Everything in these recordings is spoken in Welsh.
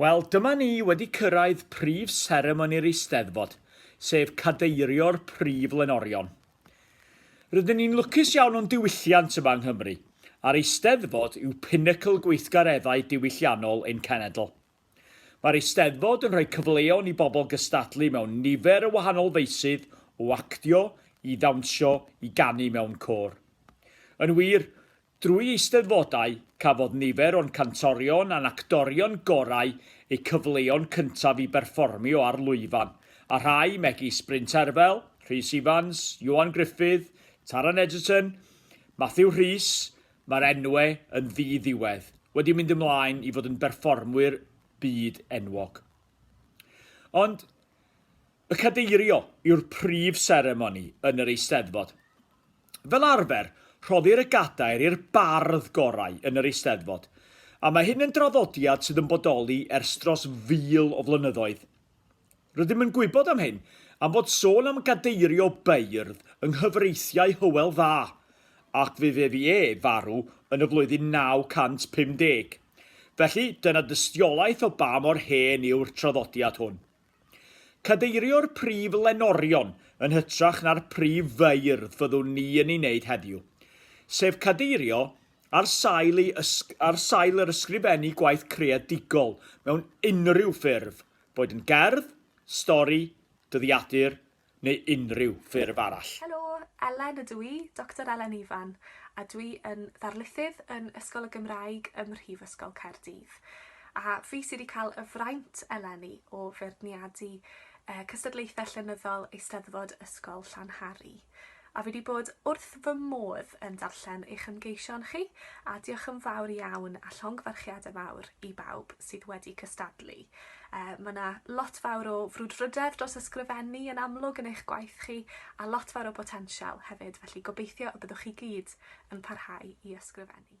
Wel, dyma ni wedi cyrraedd prif seremoni'r Eisteddfod, sef cadeirio'r prif lenorion. Rydyn ni'n lwcus iawn o'n diwylliant yma yng Nghymru, a'r Eisteddfod yw pinacl gweithgareddau diwylliannol ein cenedl. Mae'r Eisteddfod yn rhoi cyfleon i bobl gystadlu mewn nifer o wahanol feysydd, o actio, i ddawnsio, i ganu mewn côr. Yn wir, Drwy Eisteddfodau, cafodd nifer o'n cantorion a'n actorion gorau eu cyfleon cyntaf i berfformio ar lwyfan, a rhai, megis Bryn Terfel, Rhys Ifans, Ioan Gruffydd, Taran Egerton, Matthew Rhys, mae'r enwe yn ddi-ddiwedd, wedi mynd ymlaen i fod yn berfformwyr byd enwog. Ond y cadeirio yw'r prif seremoni yn yr Eisteddfod. Fel arfer, rhoddir y gadair i'r bardd gorau yn yr Eisteddfod, a mae hyn yn draddodiad sydd yn bodoli ers dros fil o flynyddoedd. Rydym yn gwybod am hyn am fod sôn am gadeirio beirdd yng nghyfreithiau Hywel Dda, ac fe fu e farw yn y flwyddyn 950. Felly, dyna dystiolaeth o ba mor hen yw'r traddodiad hwn. Cadeirio'r prif lenorion yn hytrach na'r prif feirdd fyddwn ni yn ei wneud heddiw, sef cadeirio ar sail, ei ar sail yr ysgrifennu gwaith creadigol mewn unrhyw ffurf, boed yn gerdd, stori, dyddiadur, neu unrhyw ffurf arall. Helo, Elen ydw i, Doctor Elen Ifan, a dwi yn ddarlithydd yn Ysgol y Gymraeg ym Mhrifysgol Caerdydd. A fi sydd wedi cael y fraint eleni o feirniadu cystadlaethau llenyddol Eisteddfod Ysgol Llanhari. A fi 'di bod wrth fy modd yn darllen eich ymgeision chi, a diolch yn fawr iawn a llongyfarchiadau mawr i bawb sydd wedi cystadlu. Uh, mae yna lot fawr o frwdfrydedd dros ysgrifennu yn amlwg yn eich gwaith chi, a lot fawr o botensial hefyd, felly gobeithio y byddwch chi gyd yn parhau i ysgrifennu.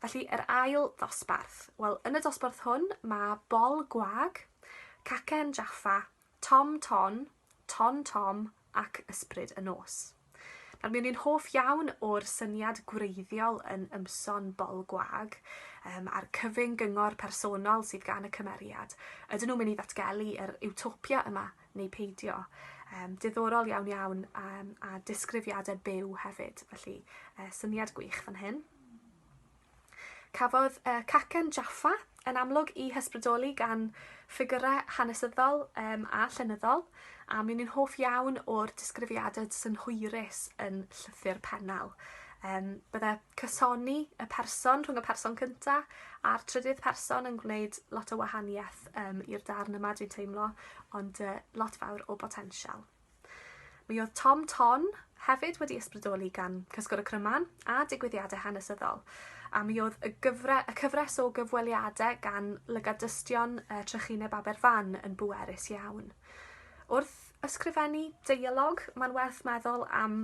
Felly, yr ail ddosbarth. Wel, yn y dosbarth hwn, mae Bol Gwag, Cacen Jaffa, Tom Ton, Ton Tom ac Ysbryd y Nos. Nawr, mi o'n i'n hoff iawn o'r syniad gwreiddiol yn ymson bol gwag um, a'r cyfyng gyngor personol sydd gan y cymeriad. Ydyn nhw'n mynd i ddatgelu yr utopia yma neu peidio. Um, diddorol iawn iawn um, a disgrifiadau byw hefyd, felly uh, syniad gwych fan hyn. Cafodd uh, cacen Jaffa yn amlwg i hysbrydoli gan ffigurau hanesyddol um, a llenyddol, a mi'n i'n hoff iawn o'r disgrifiadau synhwyrus yn llythyr pennal. Um, bydde Cysoni y person rhwng y person cynta a'r trydydd person yn gwneud lot o wahaniaeth um, i'r darn yma dwi'n teimlo, ond uh, lot fawr o botensial. Mi oedd Tom Ton hefyd wedi ysbrydoli gan Cysgwr y Cryman a digwyddiadau hanesyddol, a mi oedd y, gyfre, y cyfres o gyfweliadau gan lygadystion uh, Trychineb Aberfan yn bwerus iawn. Wrth ysgrifennu deialog, mae'n werth meddwl am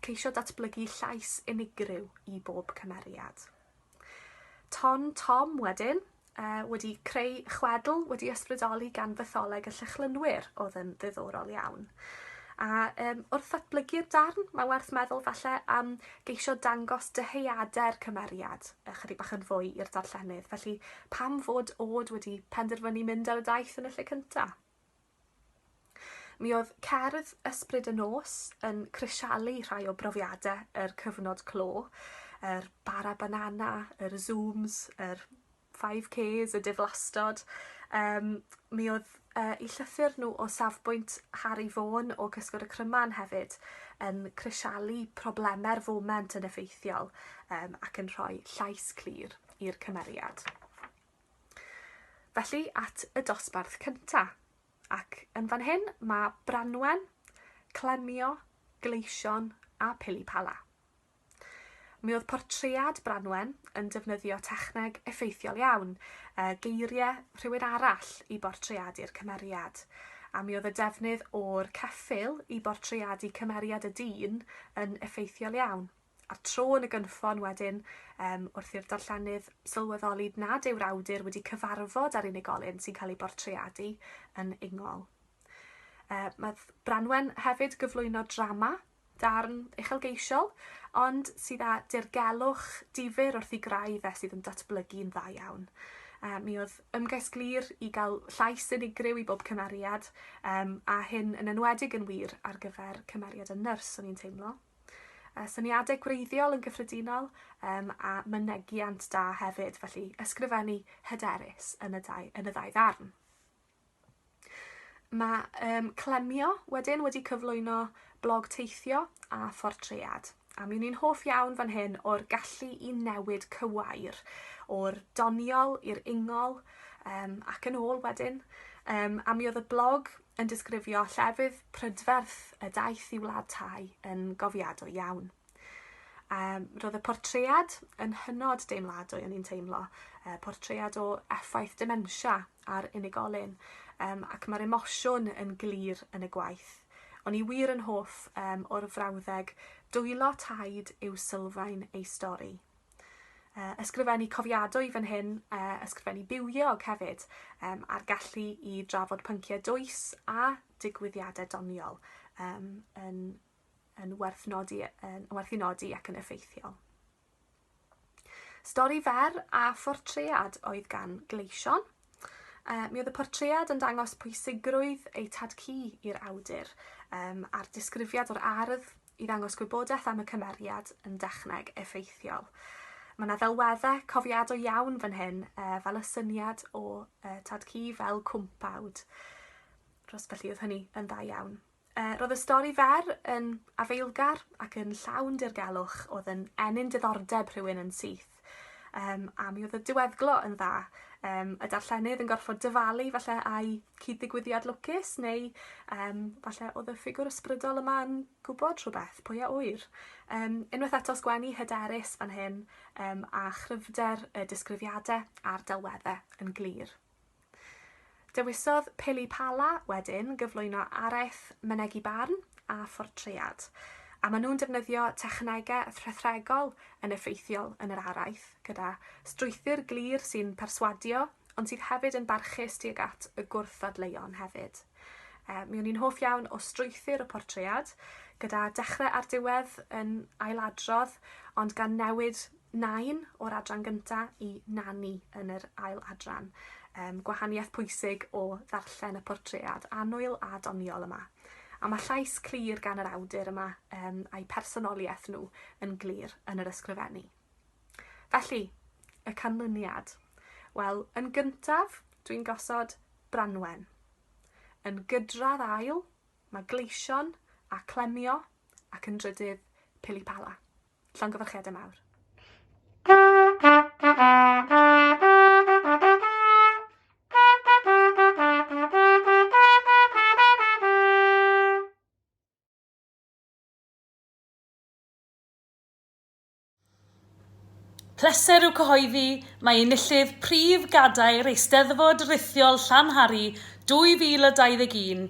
ceisio datblygu llais unigryw i bob cymeriad. Ton Tom wedyn, uh, wedi creu chwedl wedi ysbrydoli gan fytholeg y llychlynwyr oedd yn ddiddorol iawn. A um, wrth ddatblygu'r darn, mae werth meddwl falle am geisio dangos dyheuadau'r cymeriad ychydig bach yn fwy i'r darllenydd. Felly, pam fod Ôd wedi penderfynu mynd ar y daith yn y lle cyntaf? Mi oedd cerdd Ysbryd y Nos yn crisialu rhai o brofiadau yr cyfnod clo, yr bara banana, yr zooms, yr 5Ks, y diflastod. Um, mi oedd uh, i llythyr nhw o safbwynt Harry Vaughan o Cysgod y Cryman hefyd yn crisialu problemau'r foment yn effeithiol um, ac yn rhoi llais clir i'r cymeriad. Felly at y dosbarth cynta, ac yn fan hyn mae Branwen, Clemio, Gleision a Pilipala. Mi oedd portread Branwen yn defnyddio techneg effeithiol iawn, e, geiriau rhywun arall i bortreadu'r cymeriad, a mi oedd y defnydd o'r ceffyl i bortreadu cymeriad y dyn yn effeithiol iawn. a'r tro yn y gynffon wedyn um, wrth i'r darllenydd sylweddoli nad yw'r awdur wedi cyfarfod â'r unigolyn sy'n cael ei bortreadu yn ingol. Uh, mae Branwen hefyd gyflwyno drama darn uchelgeisiol, ond sydd â dirgelwch difyr wrth i grau fe sydd yn datblygu'n dda iawn. Uh, mi oedd ymgais glir i gael llais unigryw i bob cymeriad, um, a hyn yn enwedig yn wir ar gyfer cymeriad y nyrs o'n i'n teimlo. uh, syniadau gwreiddiol yn gyffredinol um, a mynegiant da hefyd, felly ysgrifennu hyderus yn y, dau, yn y ddau ddarn. Mae um, Clemio wedyn wedi cyflwyno blog teithio a phortread. A mi ni'n hoff iawn fan hyn o'r gallu i newid cywair o'r doniol i'r ingol um, ac yn ôl wedyn. Um, a mi oedd y blog yn disgrifio llefydd prydferth y daeth i wlad tai yn gofiadwy iawn. Um, roedd y portread yn hynod deimladwy o'n i'n teimlo, uh, portread o effaith dementia ar unigolyn, um, ac mae'r emosiwn yn glir yn y gwaith. O'n i wir yn hoff um, o'r frawddeg, dwylo taid yw sylfaen ei stori. Uh, ysgrifennu cofiadwy fan hyn, uh, ysgrifennu bywiog hefyd, um, a'r gallu i drafod pynciau dwys a digwyddiadau doniol um, yn, yn, werth nodi, yn werth i nodi ac yn effeithiol. Stori fer a phortread oedd gan Gleision, Uh, mi oedd y portread yn dangos pwysigrwydd eu tad cu i'r awdur um, a'r disgrifiad o'r ardd i ddangos gwybodaeth am y cymeriad yn dechneg effeithiol. Mae yna ddelweddau cofiadol iawn fan hyn, uh, fel y syniad o uh, tad cu fel cwmpawd. Dros felly oedd hynny yn dda iawn. Uh, roedd y stori fer yn afeilgar ac yn llawn dirgelwch oedd yn enyn diddordeb rhywun yn syth. gwaith, um, a mi oedd y diweddglo yn dda. Um, y darllenydd yn gorfod dyfalu falle a'i cyd-ddigwyddiad lwcus, neu um, falle oedd y ffigwr ysbrydol yma yn gwybod rhywbeth, pwy a wyr. Um, unwaith eto sgwennu hyderus fan hyn, um, a chryfder y disgrifiadau a'r delweddau yn glir. Dewisodd Pili Pala wedyn gyflwyno araith mynegi barn a phortread, a maen nhw'n defnyddio technegau rhethregol yn effeithiol yn yr araith, gyda strwythur glir sy'n perswadio ond sydd hefyd yn barchus tuag at y gwrthdadleuon hefyd. E, mi o'n i'n hoff iawn o strwythur y portread, gyda dechrau a'r diwedd yn ailadrodd, ond gan newid Nain o'r adran gynta' i Nani yn yr ail adran. Yym, gwahaniaeth pwysig o ddarllen y portread annwyl a doniol yma. A mae llais clir gan yr awdur yma um, a'i personoliaeth nhw yn glir yn yr ysgrifennu. Felly, y canlyniad. Wel, yn gyntaf, dwi'n gosod Branwen. Yn gydradd ail, mae Gleision a Clemio ac yn drydydd Pilipala. Llongyfarchiadau mawr. Pleser yw cyhoeddi mae enillydd prif gadair Eisteddfod Rithiol Llanhari 2021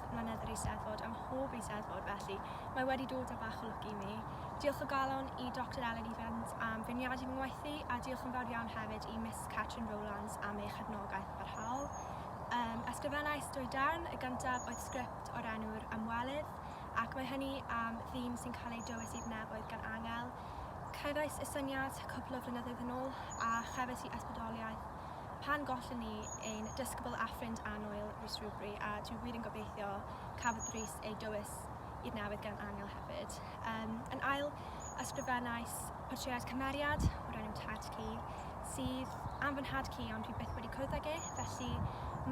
bob mlynedd yr Eisteddfod, ym mhob Eisteddfod felly, mae wedi dod â bach o lwc i mi. Diolch o galon i Doctor Ellen Evans am feirniadu fy ngwaith a diolch yn fawr iawn hefyd i Miss Catrin Rowlands am ei chefnogaeth barhaol. Um, ysgrifennais dwy darn, y gyntaf oedd sgript o'r enw'r ymwelydd, ac mae hynny am ddim sy'n cael ei dywys i'r nefoedd gan angel. Cefais y syniad cwpl o flynyddoedd yn ôl, a chefais i ysbrydoliaeth pan gollon ni ein dysgybl a ffrind annwyl Rhys Rhywbri a dwi wir yn gobeithio cafodd Rhys ei dywys i'r newydd gan Angel hefyd. Um, yn ail, ysgrifennais portread cymeriad o'r enw Tad Ci sydd am fy nhad ci ond dwi byth wedi cwrdd ag e, felly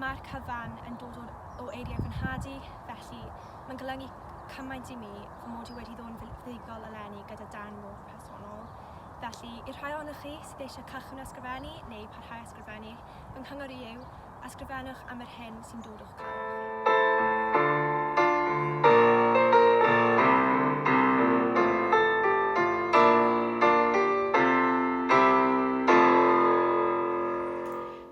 mae'r cyfan yn dod o, o eiriau fy nhad i, felly mae'n golygu cymaint i mi fy mod i wedi ddod yn fuddugol eleni gyda dan modd personol. Felly, i'r rhai ohonoch chi sydd eisiau cychwyn ysgrifennu neu parhau ysgrifennu, fy nghyngor i yw, ysgrifennwch am yr hyn sy'n dod o'ch galw chi.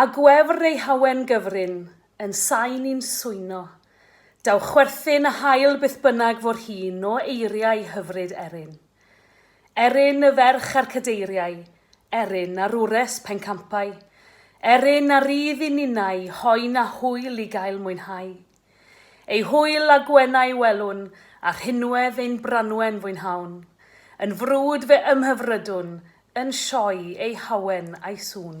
A gwefr ei hawen gyfrin, yn sain i'n swyno. Daw chwerthin a hael beth bynnag fo'r hyn o eiriau hyfryd Erin. Erin y ferch a'r cadeiriau, Erin a rures pencampau, Erin a rydd i ninnau hoen a hwyl i gael mwynhau. Ei hwyl a gwenau welwn, a rhinwedd ein Branwen fwynhawn. Yn frwd fe ymhyfrydwn, yn sioe ei hawen a'i sŵn.